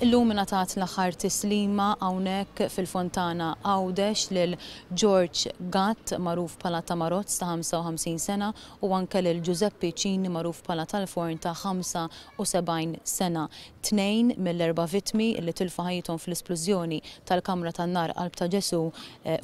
Illum ingħatat l-aħħar tislima hawnhekk fil-Fontana Għawdex lil George Gatt magħruf bħala Tamarozz ta' 55 sena u anke lil Ġużeppi Cini magħruf bħala Tal-Forn ta' 75 sena. Tnejn mill-erba' vittmi li tilfu ħajjithom fl-isplużjoni tal-kamra tan-nar Qalb ta' Ġesù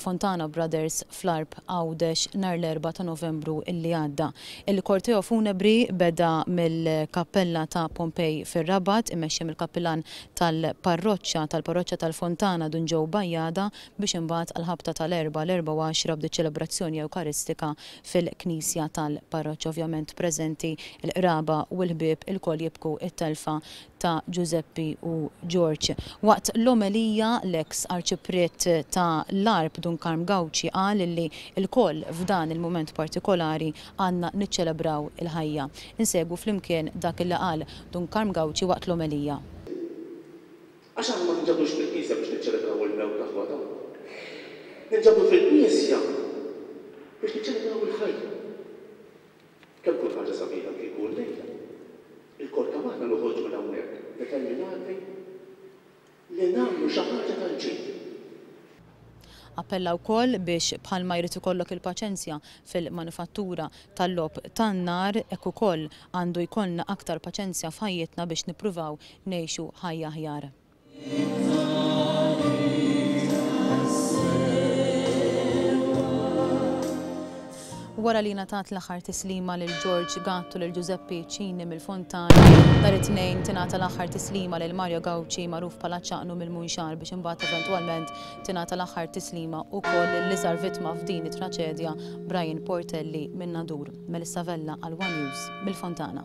Fontana Brothers fl-Għarb Għawdex nhar l-Erbgħa ta' Novembru li għadda. Il-korteo funebri beda mill-Kappella ta' Pompej fir-Rabat, imexxi mill-Kappilan tal-Parroċċa tal-Parroċċa tal-Fontana Dun Joe Bajada biex imbagħad għall-ħabta ta' l-Erbgħa l-Erbgħa u Għaxra bdiet ċelebrazzjoni Ewkaristika fil-Knisja tal-Parroċċa. Ovvjament preżenti l-qraba u l-ħbieb ilkoll jibku t-telfa ta' Ġużeppi u Ġorġ. Waqt l-omelija, l-eks Arċipriet ta' l-Għarb Dun Karm Gauci qal li lkoll f'dan il-mument partikolari għandna niċċelebraw il-ħajja. Insegwu flimkien dak li qal Dun Karm Gauci waqt l-omelija. Għax aħna ma ninġabdux fil-knisja biex niċċelebraw il-mewt ta' ħwata. Ninġabdu fil-knisja biex niċċelebraw il-ħajja. Kemm tkun ħaġa sabiħa kieku llejla lkoll kemm aħna noħorġu minn hawnhekk determinati li nagħmlu xi ħaġa tal-ġid! Appella wkoll biex bħalma jrid ikollok il-paċenzja fil-manifattura tal-logħob tan-nar, hekk ukoll għandu jkollna aktar paċenzja f'ħajjitna biex nippruvaw ngħixu ħajja aħjar. Wara li ngħatat l-aħħar tislima lil George Gatt u lil Ġużeppi Cini mill-Fontana, nhar it-Tnejn tingħata l-aħħar tislima lil Mario Gauci magħruf bħala Ċaqnu mill-Munxar biex imbagħad eventwalment tingħata l-aħħar tislima wkoll lill-iżgħar vittma f'din it-traċedja Brian Portelli minn Nadur. Melissa Vella għal one News mill-Fontana.